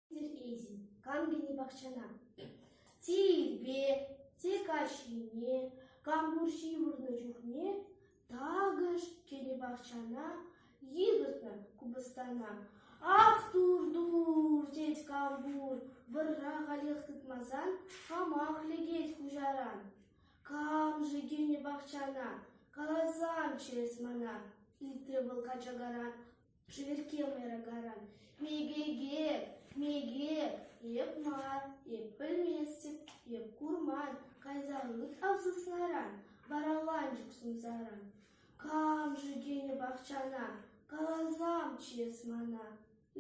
Терпетӗн, кам кӗнӗ пахчана? Те ирпе, те каҫхине, кам пур ҫывӑрнӑ чухне, такӑш кӗнӗ пахчана йыхӑртнӑ купӑстана. Ах, тур-тур, тет кам пур, вӑрра халех тытмасан, хамах лекет хуҫаран. Кам-ши килнӗ пахчана? Каласан ҫӳрес мана!» — ыйтрӗ вӑл качакаран, шӗверкке мӑйракаран. «Мекеке, меке! Эп мар, эп пӗлместӗп, эп курман, кайсан ыт авсасларан, вараланчӑк сунсаран. Кам-ши килнӗ пахчана? Каласан ҫӳрес мана!»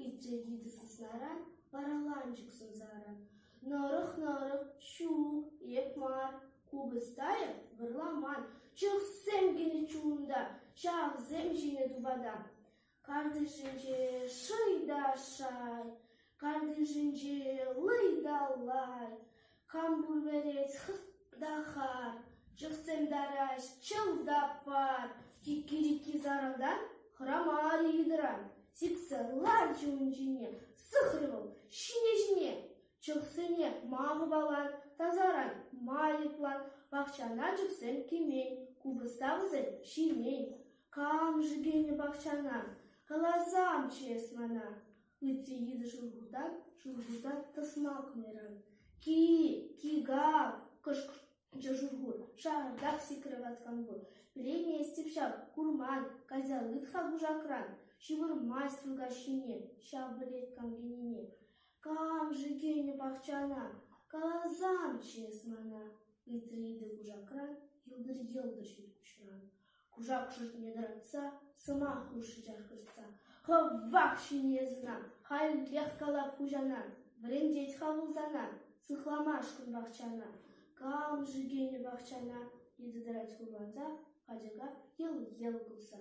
Ыйтрӗ йытӑ саснаран вараланчӑк сӑмсаран. Нӑрӑх-нӑрӑх, ҫук, эп мар. Купӑстайӑн вӑрламан, чӑхсем кӗнӗ чунта, ҫавсем ҫинӗ тупата. Картишӗнче шӑй та шай, картишӗнче лӑй та лай. Кам пулверец хытта-ха, чӑхсем тараҫ, чӑв. таппар, кикки-рикки сарӑлтан хӑрамарӗ йытӑран, сиксе ларчӗ ун ҫине, сыхрӗ вӑл ҫине-ҫине, чӑхсене макӑпалан, тасаран майӑплан, пахчана чӑхсем кӗмен, купӑста вӗсем ҫимен. Кам-ши кӗнӗ пахчана? Каласамччӗ эс мана. Ытти йытӑ шурхута, шурхута тӑсма кӑнӑран: «Ки-и, ки-га-а!» кӑшкӑрчӗ шурхут. «Шартах сикрӗ ваткан пур. Пӗлеймест эп ҫав, курман, каҫалыт-ха кушакран. Ҫывӑрмасть Вылкаш ҫине, ҫав пӗлет кампенине. Кам-ши кӗнӗ пахчана? Каласан чыс мана!» ыйтрӗ йытӑ кушакран, йӑлтӑр-йӑлтӑр ҫил куҫран. Кушак шутне тӑратса, сӑмах хушрӗҫех хыҫса: «Хӑвах ҫине сӑнан, халӗн тех калап хуҫана, вӗрентет-ха вӑл сана, сыхламашкӑн пахчана, кам-ши кӗнӗ пахчана?» йытӑ тӑрать хурланса, качака йӑл-йӑл кулса.